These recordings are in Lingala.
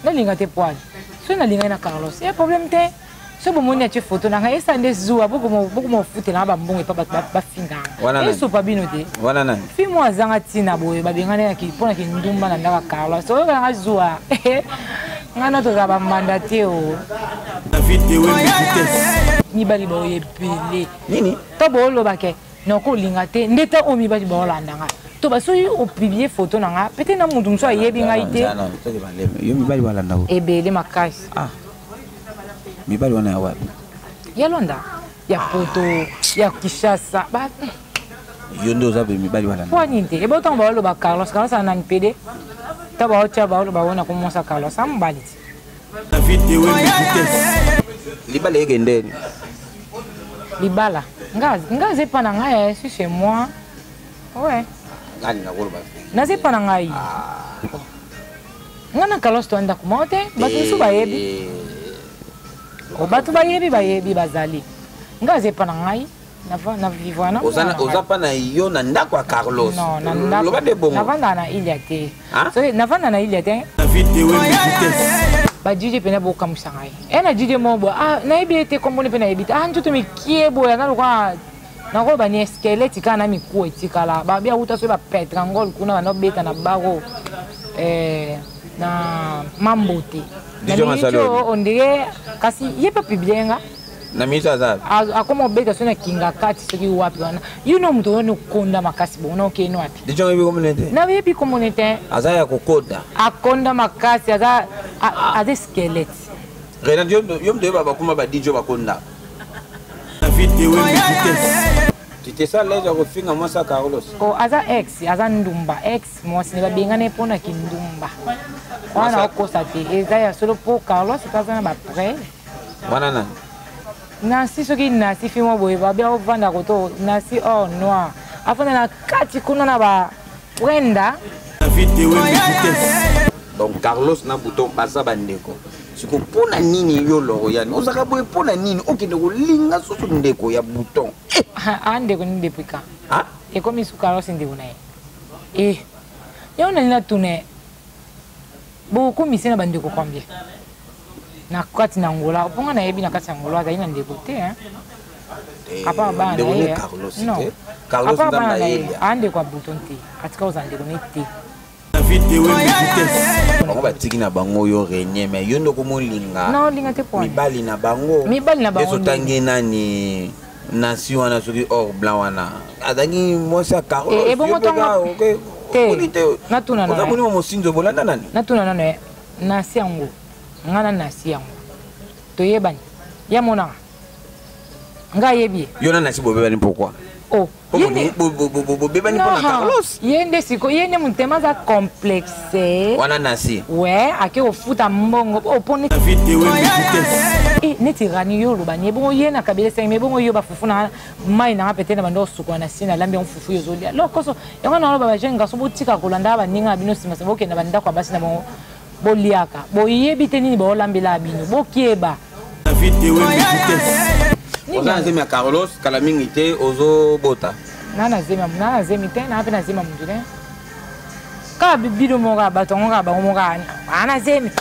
nalinga te poil soki nalingaki na carlos ya problème te soki bomoni atie foto na ngai esa nde zuwa bokomofutela nga bambongo epa bato bafinganga esopa bino te fi mo azanga ntina boye babengani mpo na kindumba na ndaka carlos oyokela nga zuwa ngai na tozala bamanda te o mibali baoyo ebele nini to boolobake noko olinga te nde ta oyo mibali baolanda nga to basoki opiblie foto na nga pete na moto mosusu ayebi ngai te yo mibali balanda ebele makasi ah. mibali wana ya wapi ya londa ya poto ya kishasa yo nde oza pe mibali balanda po nini te ebe otango baoloba carlos carlos anani pede ta baotya baoloba ona komonsa carlos amobali te libala ekendeni libala nga aza epa na ngai eh, si chez moi ouais naza epa na ngai nga na kalos to ndako moko te bato mosusu bayebi eh. bato bayebi bayebi bazali nga aza epa na ngai na vivre na oza oza pa na yo na ndako ya Carlos loba de bongo navanda na Ilia te soki navanda na Ilia te ba DJ pena bo kamusa ngai e na DJ mo bo ah na yebi te kombo ne pena yebi te ah njoto mikie bo ya na lokwa na ko ba ni squelette kana na miku etikala ba bia uta so ba petra ngol kuna ba no beta na baro eh na mambote na minute ondire kasi ye pe publier nga na minute aza akoma obeta so na kinga kati soki wapi wana yo no moto wana okonda makasi bongo na okei no wapi deja oyebi komona te na oyebi komona te aza ya kokonda akonda makasi aza aza esquelete renat yo moto oyeba bakoma badijo bakonda titesa lege ya kofinga mwasi ya carlos oh, aza ex aza ndumba ex mwasi ne babengani mpo na kindumba wana okosa te eza ya solo mpo carlos mpe aza na bapreuve wana nani nasi soki nasi fimo boye babi akovanda koto nasi or noir afanda na kati kuna na ba prenda donc carlos na bouton baza bandeko siko mpo na nini yo loriane ozalaka boye mpo na nini okende kolinga susu ndeko ya bouton eh! ah, ah, ndeko nini depuis quand ah? ekomi su carlos ndeko na ye eh, yo nani natuna ye bokomisi ye na bandeko combien na kati na angola mpo nga nayebi na kati ya angola azali na ndeko te eh, apart bana na ye apart bana na ye aa ndeko ya buton te atika kozala ndeko ne te bango batiki na bango yo renie mai yo nde okomolinga mibali na bango ezotangi nani nasi wana soki or blanc wana azalaki mwasi ya carlos ebongo ntongo natuna nano omoni mosinzo bolanda nani natuna nano ye nasi yango ngai na nasi yango toyebani ya monaka ngai ayebi ye yo na nasi bobebani pourkoi bobebani mpona carlos ye nde siko ye nde motema aza complexe wana nasi we ake kofuta mbongo oponi eh, neti rani yo oloba ni ebongo ye na kabila esengi ma ebongo yo bafufu na mai nanga pete na banda osukwa na si nalambi yango fufu yo ozolia lo koso yango na oloba bajeune garçon botika kolandaka baninga na bino nsima nsima bokenda bandako ya basi na bango boliaka boyebi te nini baolambelaka bino bokeba David Ewe Vitesse. Oza na zemi ya Carlos kala mingi te ozobota. Na na zemi na na zemi te na pe na zemi mundu te. Ka bibido mo ka bato ngo ka bango mo ka ana zemi.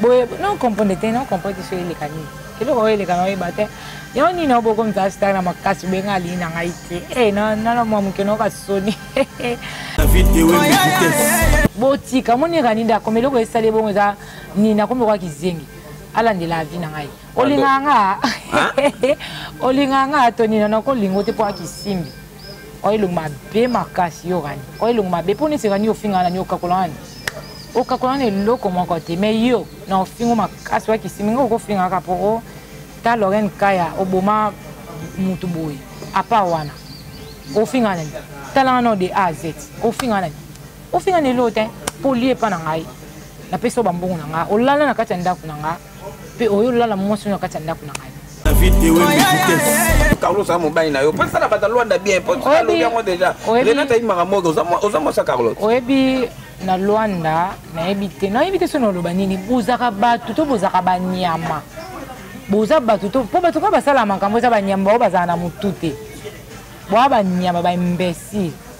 Boye non comprendre te non comprendre so ile kani. Kilo ko ile kana oyeba te. Yo ni na boko mza star na makasi be ngali na ngai te. Eh na na na mo mukeno ka soni. David Ewe Vitesse. Botika moni kani nda komelo ko esale bongo za ni na komelo ka kizengi. alandela avi na ngai olingaka nga olingaka nga tonina nakolingo te mpo akisimbi oyo elongo mabe makasi yo rani oyo elongo mabe mpo neti rani ofinga nani okakola nani okakola nani eloko moko te mai yo na ofingo makasi wakisimbi nga okofingaka mpo ta lorene kaya oboma motu boye apa wana ofinga nani talanga nao de a z ofinga nani ofinga na eloo te poli epa na ngai napesi yo bambongo na ngai olala na kati ya ndako na ngai mpe oyo olala mwasi oyo na kati ya ndako na ngai carlos a mobali na yo mpo esala bata lwanda bien mpo alobi yango déjà renata ayimaka moke oza mwasa carlos oyebi na lwanda nayebi te nayebi te soki naloba nini bozaka bato to bozaka banyama boza bato to mpo bato kaka basala makambo eza banyama bao bazala na motu te boa banyama baimbesile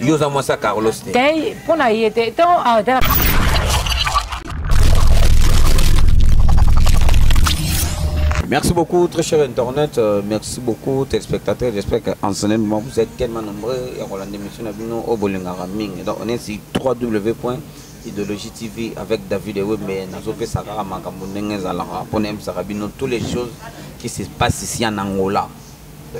yo oza mwasi ya carlos te te mpo na ye te to atala Merci beaucoup, très cher Internet. Euh, merci beaucoup, téléspectateurs. J'espère qu'en ce moment, vous êtes tellement nombreux. Et on a l'émission à Bino au Bolingara Ming. Donc, on est sur www.idéologie TV avec David et mais Nazope Sakara Makambo Nenge Zalara. Pour nous, tous les choses qui se passent ici en Angola.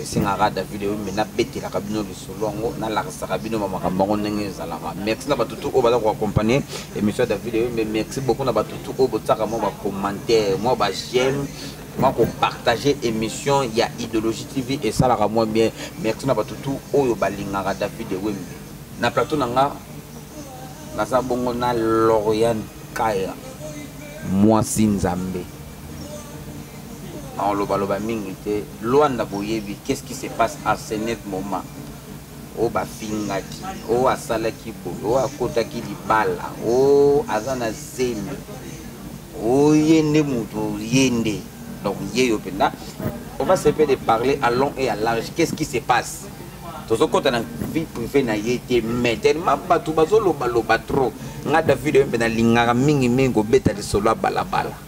esengaka david oyombe nabetelaka bino lisolo yango nalakisaka bino bamakambo yango ndenge ezalaka merci na batutu oyo baza koaccompagne émission ya david oyombe merci beaucoup na batutu oyo botiaka mwa bacommentaire mwa bajeme mwa kopartage émission ya idéologie tv esalaka mwa bien merci na batutu oyo balingaka david ewembe na plateau na nga naza bongo na lorian kaya mwasi nzambe nakolobaloba mingi te lwanda boyebi qu'est ce qui se passe à ce net moment oyo bafingaki oyo asalaki boye oyo akotaki libala oyo aza na zemi oye nde moto ye nde donc ye yo mpenza on va se faire de parler à long et à large qu'est ce qui se passe tozokɔta na vie privé na ye te mais tellement bato bazolobaloba trop nga david oyo mpe nalingaka mingimingi kobeta lisolo ya balabala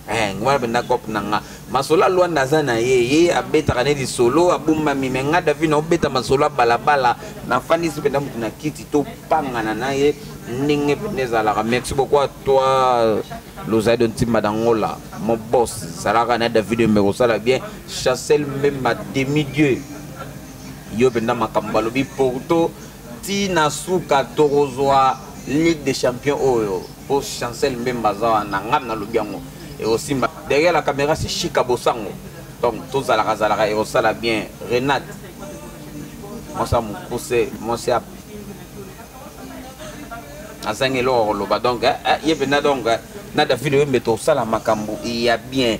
eh, ngwana mpenza cope na nga masolo ya lwanda aza na ye ye abetaka ne lisolo abombami me nga david naobeta masolo ya balabala nafandisi mpenza motu na kiti topangana na ye ndenge mpenza ezalaka merci beaucoup à toi lozali do ntimba dangola mon boss zalaka na david mbe kosala bien chassel mbemba demi dieu yo mpenza makambo balobi porto ti na suka tokozwa ligue des champions oyo po chancel mbemba aza wana ngai nalobi yango ekosimba derrière la caméra c'est chika bosango donc tozalaka zalaka ekosala bien renate mwasi ya mokuse mwasi ya azangi eloko koloba donc eh, eh, ye mpenza donc eh, na david oyembe tosala makambo ya bien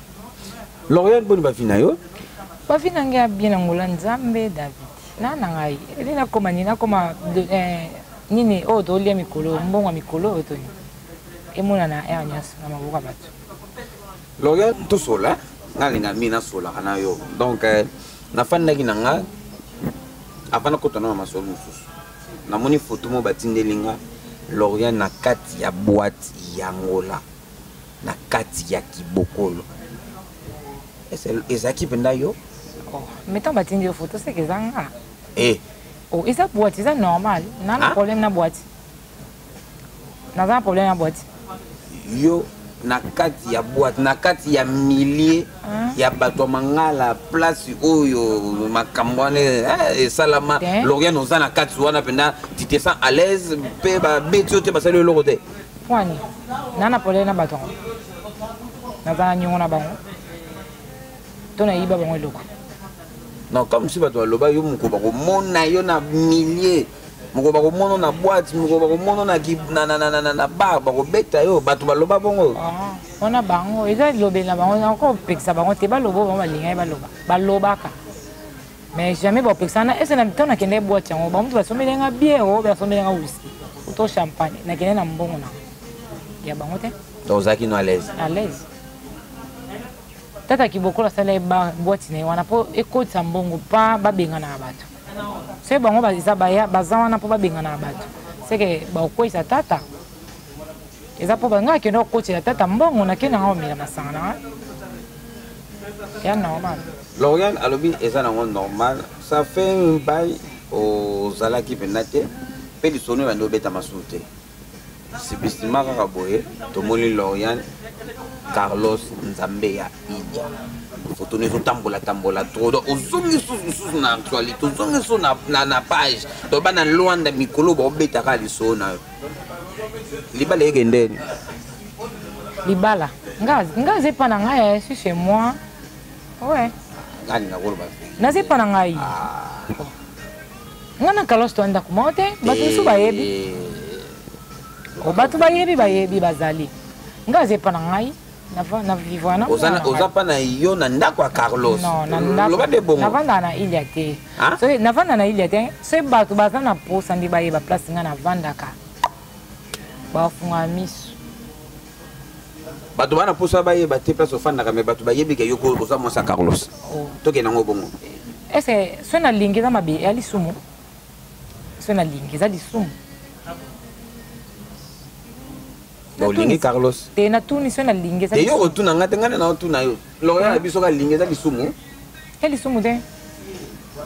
L'Oréal boni ba vie na yo Ba vie na ngai bien angola nzambe David na na ngai ede na koma ni na koma eh, nini oyo oh, tolia mikolo mbongo ya mikolo oyo toni emonana aire nyonso na maboko ya bato L'Oréal tosola nalinga mi nasolaka na yo donc eh, nafandaki na nga avant nakota na masolo mosusu namoni foto moko batindeli nga lorian na kati ya boite ya ngola na kati ya kibokolo ezalaki mpenza yo oh, metan batindi yo foto seke eza nga eh. oh, eza boite eza normal na na ah? problème na boite naza na problème na boite yo na kati ya boite na kati ya milieu ah. ya bato ya mangala place oyo makambo wana eh, esalama lorian oza na kati wana mpenza titesan à l'aise mpe babeti yo te basali yo eloko te Pwani, na na polele na bato yango, naza na nyongo na bango, to nayiba bango eloko. Non, comme si bato baloba yo moko bakomona yo na milieu moko bakomono na boite moko bakomono na bar bakobeta yo bato baloba bongo ah, wana bango eza elobeli na bango nakopekisa bango te baloba bango balingaki baloba balobaka mais jamais bapekisana ese na ntango nakendee boite yango bamutu basombeli nga biere oyo basombeli nga wiski uto champagne nakende na mbongo na ya bango te donc ozalaki no alaise alaise tata kibokola asala ye boite na ye wana mpo ekotisa mbongo mpa babengana na bato soki bango baza baya baza wana mpo babengana na bato seke bakokweyisa tata eza mpo bangai akende kokotisa tata mbongo nakende nanga omela masanga na ngai ya normal lorian alobi eza nango normal ça fait un bail ozalaki mpenza te mpe lisolo ebandi obeta masusu te sibistima kaka boye tomoni lorian carlos nzambe ya idia foto no ezotambola tambola trop donc ozongi susu mosusu na actualité ozongi susu na page donc bana lwanda mikolo baobetaka lisolo na yo libala ekendeni libala nga nga zepa na ngai eh, si chez moi ouais nani nakoloba na zepa na ngai ah. nga na kalos to ndako moko te bato mosusu eh. bayebi oh, bato bayebi bayebi bazali nga zepa na ngai oza mpa na yo na ndako ya carlos loba nde bongonavandaka na ilia te navanda na ilia te soki bato baza na mposa nde bayeba place ngai navandaka bafunga misu bato bana mposa bayeba te place ofandaka me bato bayebi ke yoko oza mwasi ya carlos oh. tokenda yango bongo ese soki nalingi eza mabe ya lisumu soki nalingi eza lisumu olingi carlos te natuni soki nalingi eza yo otuna ngai te ngai nde naotuna yo lokola na biso kalingi eza lisumu ya lisumu te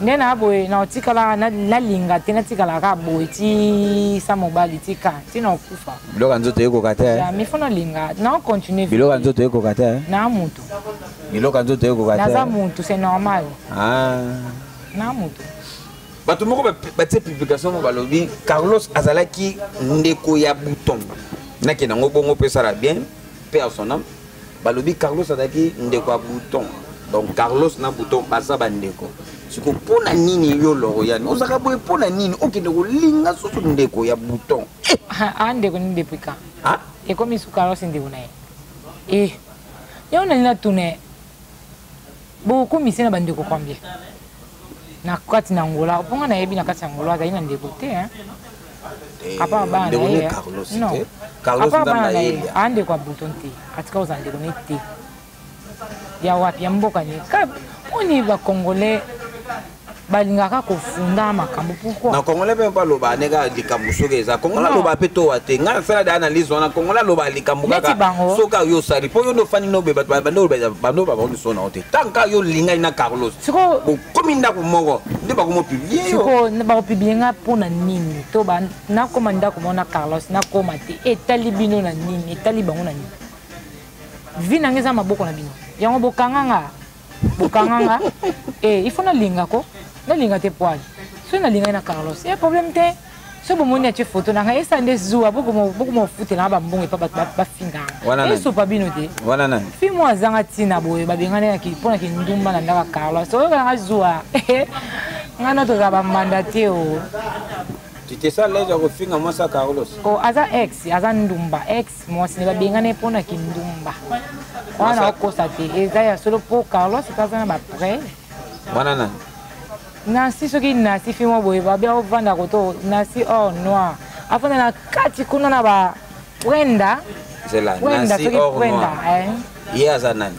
nde na boye naotikala nalinga te natikala kaka boye ti sa mobali tika ti naokufa biloko ya nzoto ekoka te eh? mi fo nalinga naocontinue biloko ya nzoto ekoka te eh? na motu biloko ya nzoto ekoka te naza eh? motu c'est normal ah. na motu bato moko batie publication mo balobi carlos azalaki ndeko ya bouton nakenda yango bongo mpe esala bien mpe asonam balobi carlos azalaki ndeko ya bouton donc carlos na bouton baza bandeko siko mpo na nini yo loriane ozalaka boye mpo na nini okende kolinga susu ndeko ya bouton eh! ah, ah, ndeko nini depuis quand ah? ekomi su carlos ndeko na ye eh, yango nani natuna ye bokomi se na bandeko combien na kati na angola mpo nga nayebi na kati ya angola azali na ndeko te eh, apart bana na ye apart bana na ye aa ndeko ya bouton te atika kozala ndeko ne te ya wapi ya mboka ne mpo ni bacongolais balingaka kofunda makambo pourquoi na congolais mpe baloba ndenge likambo soki eza congolais aloba mpe towa te ngai nasala de analyse wana congolais aloba likambo kaka soki ayo osali mpo yo nde ofandi nobe bando babao miso na yo te ntango kaka yo olingani na carlos okomi ndako moko nde bakomopiblie yo bakopiblie ngai mpo na nini to nakoma ndako moko na carlos nakoma te etali bino na nini etali bango na nini vi na ngai eza maboko na bino yango bokanga ngaa bokanga nga eh, il faut nalinga ko nalinga te poil soki nalingaki na carlos ye eh, problème te soki bomoni atie foto na ngai esa nde zuwa bokomofutela nga bambongo epa bato bafinganga esopa bino te fi mo azanga ntina boye babengani mpo na kindumba na ndaka carlos oyokana nga zuwa ngai na tozala bambanda te o oh. tu te sens l'aise ya kofinga mwasi ya carlos o oh, aza ex aza ndumba ex mwasi ne babengani mpo na kindumba wana nakokosa te eza ya solo mpo carlos mpe aza na bapreve wana nani nasi soki nasi fi mwa boye babia ovanda koto nasi or noir afanda na kati kuna na ba prenda prenda soki prenda eh. ye aza nani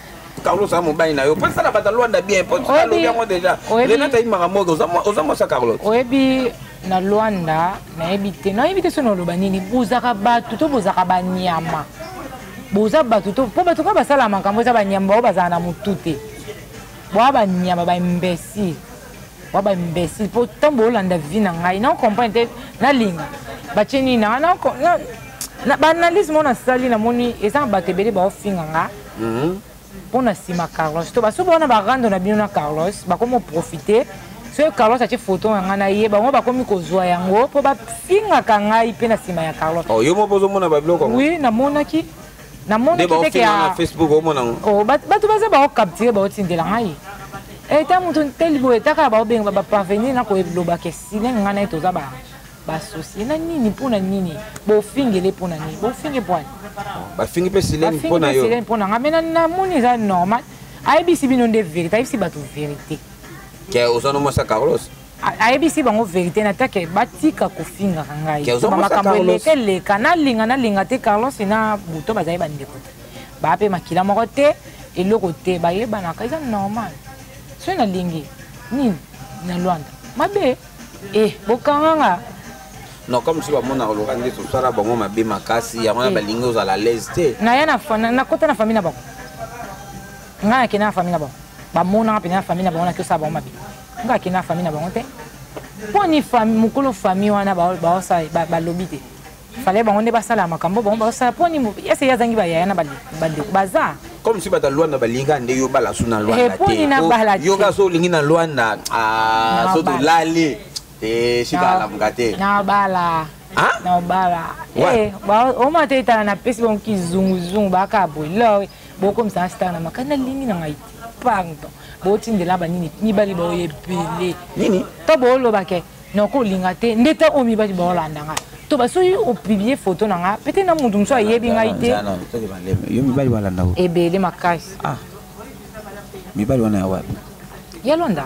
Carlos a mobali na yo mpo esala bato alwanda bien mpo alobi yango deja renata ayimaka moke oza mwasi ya carlos oyebi na lwanda nayebi te nayebi te soki naloba nini bozaka bato to bozaka banyama boza bato to mpo bato kaka basala makambo eza banyama bao bazala na motu te boa banyama baimbesile wa ba imbécile mpo ntango boolanda vie na ngai na comprendre te nalinga batie nini nanga na baanalyse moko nasali namoni eza na bato ebele baofinga nga mhm. mpo na nsima carlos to basuba wana barando na bino na carlos bakomi oprofite soki carlos atie foto na ngai na ye bango bakomi kozwa yango mpo bafingaka ngai mpe na nsima ya carlos oh, yo moko ozomona babiloko wi namonaki namonaki ndeke ya facebook omona ngo oh, bato baza bao capture baotindela ngai eta eh, moto nteli boye etaka ya baobenga baparvenir na koeloba ke sine ngai naye toza ba basosi na nini mpo na nini bofingele mpo na nini bofinge pwani bafingi mpe silene mpo na yo silene mpo na ngai mena namoni eza normal ayebisi bino nde verité ayebisi bato verité ke oza no mwasi ya carlos ayebisi bango verité na take batika kofingaka ngai makambo eleka eleka nalinga nalinga te carlos na buto bazali bandeko te baa mpe makila moko te eloko te bayebanaka eza normal soki nalingi nini na lwanda mabe e bokanga nga non comme si bamonaka loka nde tosala bango mabe makasi yango na eh. balingi ozala alaise te naya nakota na famille na bango ngai nakenda na famille na bango bamonaka mpenza na famille na bango nakiosa bango mabe nga akenda famille na bango te mpo ni mokolo famille wana balobi te fale bango nde basala makambo bango basala mpo ni ese ye azangi bayaya na bandeko baza comme si bata lwanda balinga nde yo bala su na lwanda eh, te yo kasi olingi na lwanda ah, so tolali te eh, sika alamuka te nabala na obala eh, oma te etala napesi bango kizunguzungu baka boye lor bokomisa star na makasi nalingi na ngai te pardon botindela banini mibali bao ebele nini to booloba ke nakolinga te nde ta oyo mibali baolanda ngai to basoki opiblie foto na ngai pete na motu mosusu ayebi ngai te ebele makasi ah. mibali wana ya wapi ya londa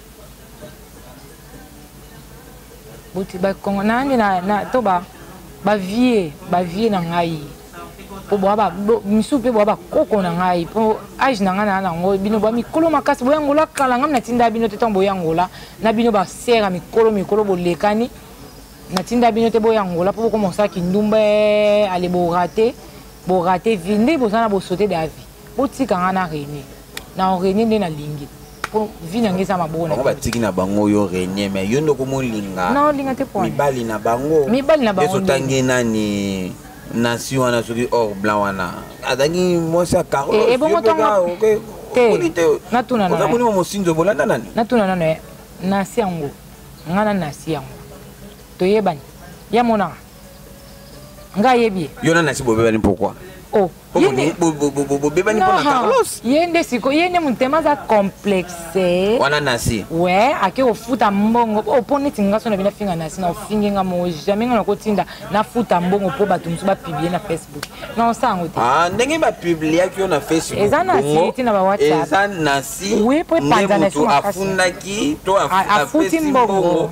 bote bakongo nayambi na to ba bavie bavie na ngai mpo boa misusu mpe boa bakoko na ngai mpo age na ngai naa nango bino boa mikolo makasi boyangola kala ngai natinda bino te ntango boyangola na bino basere ya mikolo mikolo bolekani natinda bino te boyangola mpo bokoma osala kindumba eh, ale borate borate vi nde boza na bosote davi botika ngai na rene na orenie nde nalingi po vi na ngai eza maboko na batiki na bango yo renie mais yo nde okomolinga na olinga te po mibali na bango mibali na bango ezotangi nani nasi wana soki or blanc wana azangi mwasi ya carlos ebongo ntongo te natuna nano ozamonima mosinzo bolanda nani natuna nano nasi yango ngai na nasi yango toyebani ya monaka nga yebi ye yo na nasi bobebani pourquoi oh, bobebani mpo na carlos ye nde siko ye nde motema aza complexe wana nasi we ake kofuta mbongo mpo oh, neti nga so na bino afinga nasi na ofingi nga moo jamais nga nakotinda nafuta mbongo mpo bato mosusu bapiblie na facebook na osala yango te ah, ndenge bapibliaki yo na facebook eza nasi ti na bawhatsapp eza nasi nde moto afundaki to afuti mbongo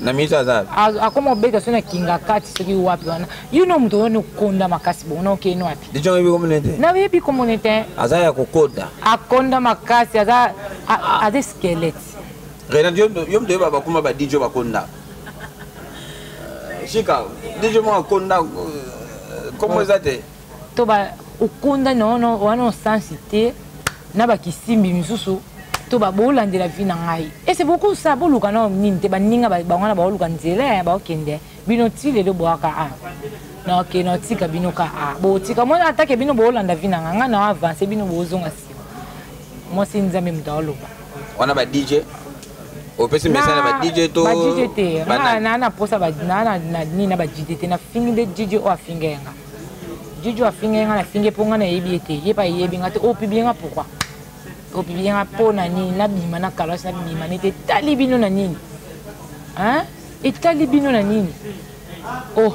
na minute aza akoma obeta so na kinga kati soki wapi wana yo no moto wana okonda makasi bongo na okei no wapi deja oyebi komona te na oyebi komona te aza ya kokoda akonda makasi aza aza esquelete renat yo moto oyeba bakoma ba dj bakonda euh, sika dj moko akonda euh, komo eza te to ba okonda na wana wana osansi te na bakisimbi misusu to babolandela vi na ngai ese bokosa boluka na nini te baninga bango wana baoluka nzela ya baokende bino ti lelo boaka a naoke naotika bino ka a botika mwana atake bino boolanda vi na ngai ngai na avance bino bozonga nsima mwasi nzambe moto aoloba wana ba dj opesi message na ba dj to ba dj te na na posa ba na na nini na ba dj te na fingi de dj o afinga yanga Juju afinga nga na finge po nga na yebi ete ye pa yebi nga te o pibi nga pourquoi o pibi nga po na nini na bima na kalas na bima nete tali bino na nini hein etali bino na nini oh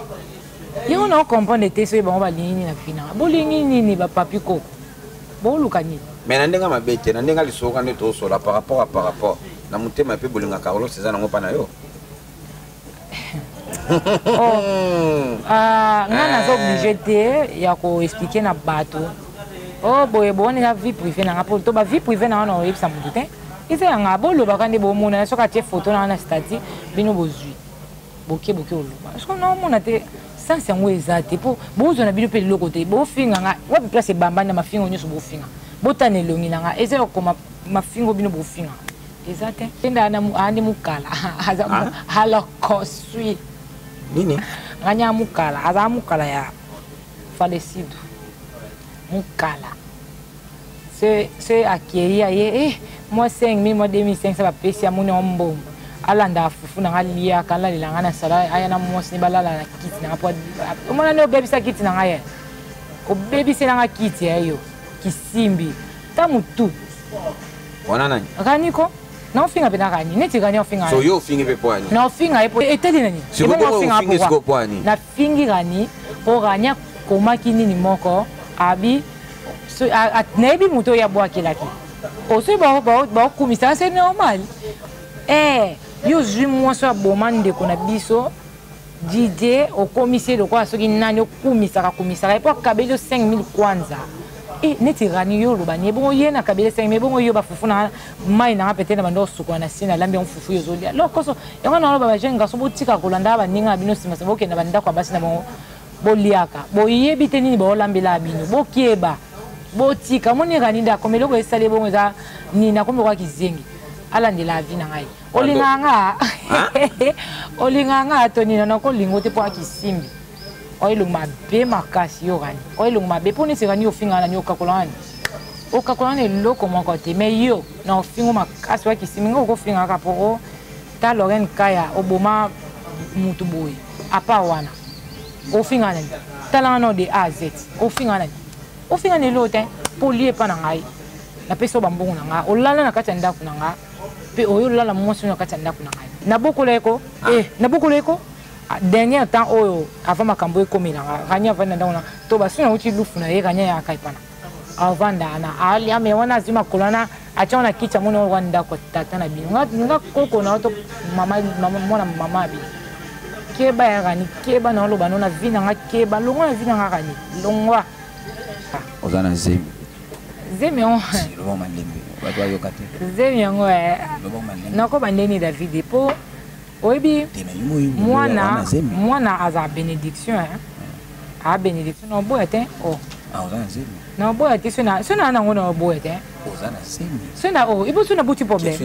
yango na comprendre te soki bango balingi nini na fina bolingi nini ba papi ko boluka nini mais na ndenge mabe te na ndenge lisoka nde tosola par rapport à par rapport na motema mpe bolinga carlos eza nango mpa na yo oh. ah, nga eh. naza oblige te ya koexplike na bato o oh, boye bowana eza vie privé na nga mpo to bavie privé na wana oyebisa motu te eza ya nga bolobaka nde bomonana soki atie foto na wana stati bino bozwi boke boke oloba soki naomona te sense yango eza te mpo bozwa na bino mpe liloko te bofinga nga wapi place ebambani na mafingo nyonso bofinga botana elongi na nga eza ya kokoma mafingo bino bofinga eza te tenda andi mukala aza halokoswi nini nganya mukala aza mukala ya falesidu mukala se se akei ya ye eh mwa 5000 mwa 2500 bapesi ya moni ombongo alanda fufu nanga aliaka alalela ngai na sala aya na mwasi ne balala na kiti nanga po omona nde obebisa kiti na ngai ye obebisi nanga kiti ya yo kisimbi ta mutu wana nani rani ko na ofinga mpe na rani neti rani ofinga so yo ofingi mpe poani na ofinga ye po etali nani ofingi siko poani nafingi rani mpo rani akomaki nini moko abi nayebi moto oyo abwakelaki osoki baokumisa se normal e eh, yo ozwi mwasi oyo aboma ndeko na biso Didier okomisi ye lokola soki nani okumisaka kumisaka ye mpo akabeli yo 5000 kwanza e neti rani yo oloba nie bongo ye na kabeli 5000 bongo yo bafufu na mai nanga pete na banda osukola na sina alambi yango fufu yo ozolia lokoso yango naloba bajeune garçon botika kolanda baninga na bino simasima bokenda bandako ya basi na bango boliaka boyebi te nini baolambelaka bino bokeba botika moni rani nde akomi eloko esali ebongo eza nini akomi lokola kizengi alandela avi na ngai olingaka nga olingaka nga tonina nakolinga te mpo akisimbi oyo elongo mabe makasi yo rani oyo elongo mabe mpo neti rani ofinga nani okakola nani okakola nani eloko moko te mai yo na ofingo makasi oya kisimi nga okofinga kaka mpo ta lorene kaya oboma motu boye apa wana ofinga nani talanga nao de a z ofinga nani ofinga nani eloo te mpo olie epa na ngai napesi yo bambongo na ngai olala na kati ya ndako na ngai mpe oyo olala mwasi oyo na kati ya ndako na ngai nabokola ye ko ah. eh, nabokola ye ko ah, dernier temps oyo avant makambo ekomela nga rania avandi na ndako na to basi nauti lufu na ye rania yaka epana avanda na aliame wana azwi makolo wana atya wana kiti amoni wana ndako tata na bino nga koko na yo to mwana mama bino keba ya rani keba na oloba no na vi na nga keba longwa na vi na nga rani longwa oza na zemi zemi yango loba malembe bato bayoka te zemi yango eh. loba malembe nakoba ndeni david mpo oyebi mwana mwana aza bénédiction eh. a bénédiction na oboya te o oh. ah, na oboya te so na yango na oboya te so na o oh, ipo so na boti problème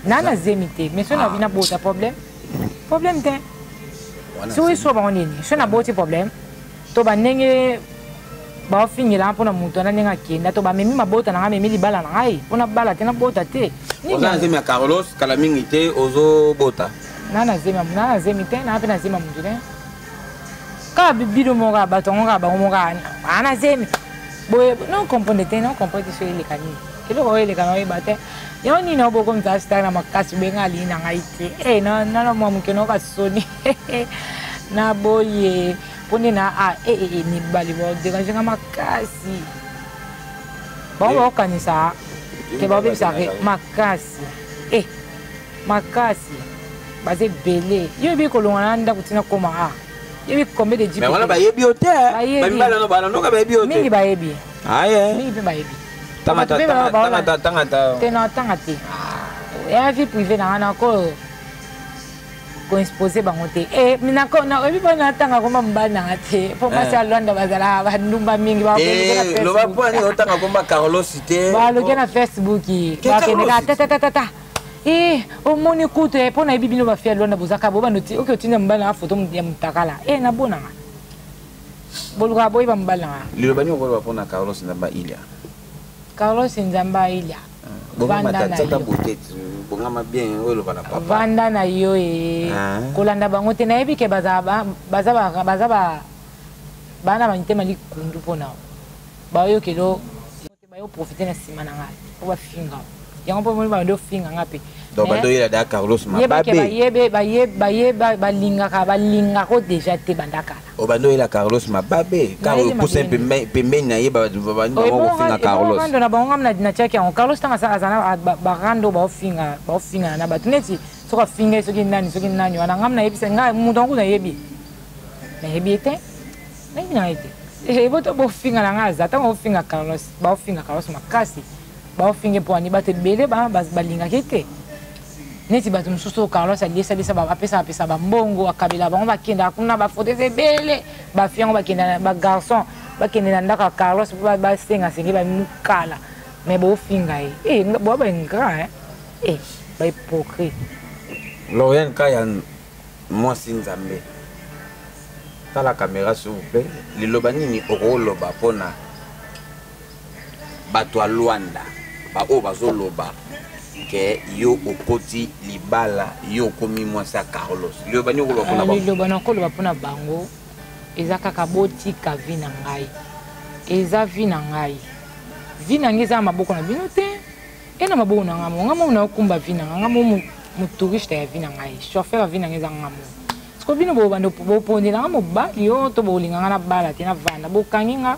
na na zemi te mais so na ah. bota problème problème te so eswa bango nini so na boti problème to ba ndenge baofingela nga mpo na moto wana ndenge akenda to bamemi mabota na ngai amemi libala na ngai mpo nabala te nabota te oza na zemi ya carlos kala mingi te ozobota na na zemi na na zemi te na mpe na zemi ya moto te kaka bino moko ya bato yango kaka bango moko aa na zemi boye non comprendre te non comprendre te so eleka nini eloko oyo eleka na oyeba te yango nini nao bokomisa star na makasi boye ngai alingi na ngai te e eh, nana mwa moke nao basoni na boye mpo nde na a ee eh, eh, eh, mibali baoderange nga makasi bango baokanisa ke babebisa makasi e makasi baza ebele yo ebi kolongana na ndako ntina koma a yebi combien de jipe wana bayebi yo te bamibala no balanoka bayebi yo te mingi bayebi aye mingi mpe bayebi tangata tangata te na tanga te ya vie privé na nga nakoyo koinspose bango te eh, oyebi mpo natanga komba mobali nanga te mpo eh. mwasi ya lwanda bazalaka bandumba mingi eh, loba mpo ani otanga komba carlos te baloke na facebook bakendeka tatatatata e omoni kutu e mpo nayebi bino bafi ya lwanda bozaka bobanda oke otinda mobali nanga foto ya motakala e nabonanga bolukaka boyeba mobali nanga liloba nini okoloba mpo na carlos nzamba ilia carlos nzamba ilia vanda na yo ye ah. kolanda bango te nayebi ke baza bana ba mitema likundu mpo na bayokelo bayo profite na nsima na ngai mpo bafinga yango mpo moni bando ofinga ngai mpe donc badoyela da carlos mababe balingaka balingaka o deja te bandakala obanda oyela carlos mababe kaka opusa pembeni na ye bandi bango kofinga carlos rando na bango ngai natiaki yango carlos ntango azana barando baofinga baofingana na bato neti soki afinga ye soki nani soki nani wana ngai nayebisa ngai moto yango nayebi nayebi ye te nayebi na ye te eboto bofinga na ngai aza ntango ofinga carlos baofinga carlos makasi baofinga mpo ani bato ebele balingaki te neti bato mosusu oyo carlos aliyesalisa apesaka pesa bambongo akabela bango bakendaka kuna bafauteuil ebele bafi yango bakenda bagarçon bakende na ndako ya carlos mpo basenga senge bamukala me bofinga ye eh, boa baingra eh, bahypocrite lorian kaya mwasi nzambe tala kamera s'il vous plaît liloba nini okoloba mpo na bato ya Luanda baoyo bazoloba ke yo okoti libala yo okomi mwasi ya Carlos liloba nini okoloba mpona bango liloba nakoloba mpona bango eza kaka botika vi na ngai eza vi na ngai vi na ngai eza na maboko na bino te e na maboko na ngai mo ngai mo naokumba vi na ngai ngai mo motouriste ya vi na ngai chauffeur ya vi na ngai eza ngai mo siko bino bobanda bopondela ngai mobali yo to bolinga ngai nabala te navanda bokangi ngai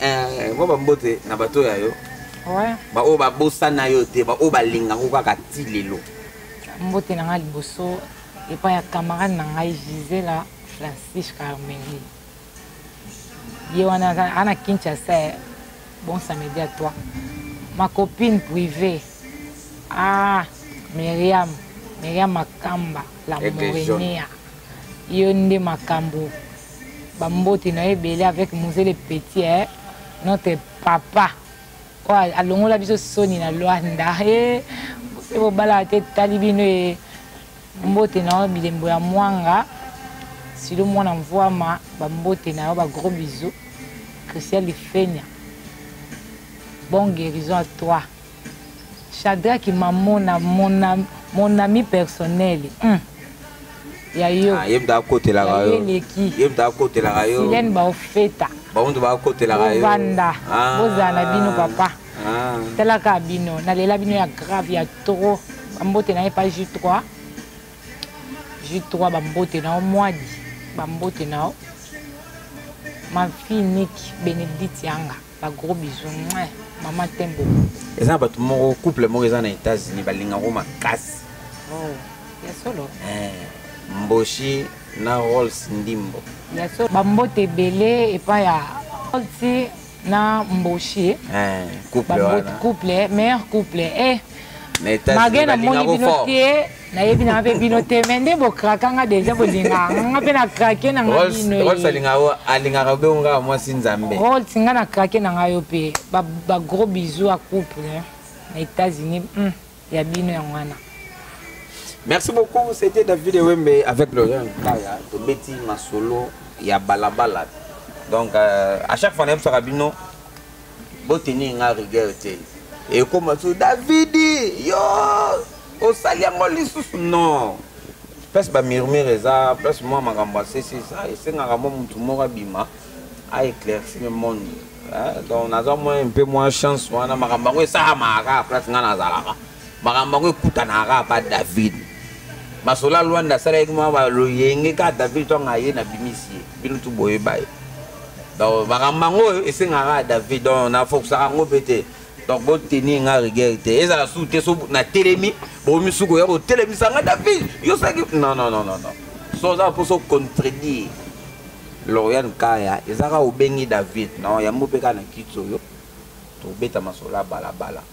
Eh, mwa bambote na bato ya yo baoyo babosana yo te baoyo balinga ngo kaka ti lelo mbote na ngai liboso epai ya camarade na ngai gisela francis carmeli ye wana aza na kinshasa eh. bon samedi à toi ma copine privée ah miriam miriam makamba la morenea yo nde makambo ba mbote na ebele avec muzele petit eh? notre papa oyo alongola biso soni na lwanda e eh, bobala te etali bino e mbote na yo bilembo ya mwanga silo mwana mvwama bambote na yo bagros biso christian lifenia bon guérison à toi Shadrach Mamona, mon, am, mon ami personnel. Hum. Ya yo. Ah, yem da kotela ka yo. Yem da kotela ka yo. Silène ba ofeta. Ba onde ba kotela ka yo. Banda. Ah. Boza na bino papa. Ah. Tala ka bino, na lela bino ya grave ya trop. Bambote na ye pa J3. J3 bambote na yo mwadi. Bambote na yo. Ma fille Nick Benedict Yanga. ba gros bisous mwa maman t'aime beaucoup eza bato moko couple moko eza na états-unis balingako makasi oh, ya solo eh, mboshi na rolls ndimbo ya solo bambote ebele epai ya rolls na mboshi eh, couple wana couple meilleur couple eh, na états-unis balingako fort nayebi nanga mpe bino te me nde bokraka nga deja bolinga nga mpe na krake na nga binoalingaka be nga mwasi nzambe rols nga na krake na nga yo mpe bagros bisou ya couple na états-unis hmm, ya bino yango wana merci beaucoup c'était david ewembe avec laurent kaya tobeti masolo ya balabala donc euh, à chaque fois nayebisaka bino botenir nga rigueur te ekoma so davidi yo osali yango lisusu non place bamurmure eza place mwa makambo asesi eza esengaka mwa motu moko abima aéclaircir monde donc naza mwa mpe mwa chance wana makambo yango esalamaka kaka place ngai nazalaka makambo yango ekutanaka kaka pa david masola lwanda asalaki mwa baloyenge kaka david ntongo aye na bimisi ye bino tu boyeba ye donc makambo yango oyo esengaka kaka david donc nafokisaka yango mpe te donc boteni nga rigueur te ezala su te so natelemi bokomi su koya kotelemisa nga david yo saki non non non non so oza mpo so contredire lorian kaya ezaka obengi david non yango mpe kaka na kiti oyo tobeta masola balabala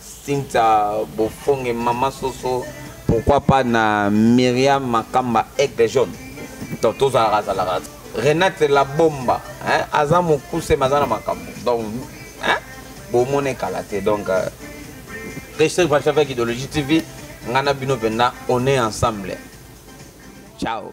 Cynthia Bofonge Mama Soso pourquoi pas na Myriam Makamba Aigle Jaune donc tozalaka azalaka Renate la bomba hein aza mokuse maza na makambo donc hein bomone kala te donc euh, Christian Pacha avec Idéologie TV ngana bino penda on est ensemble ciao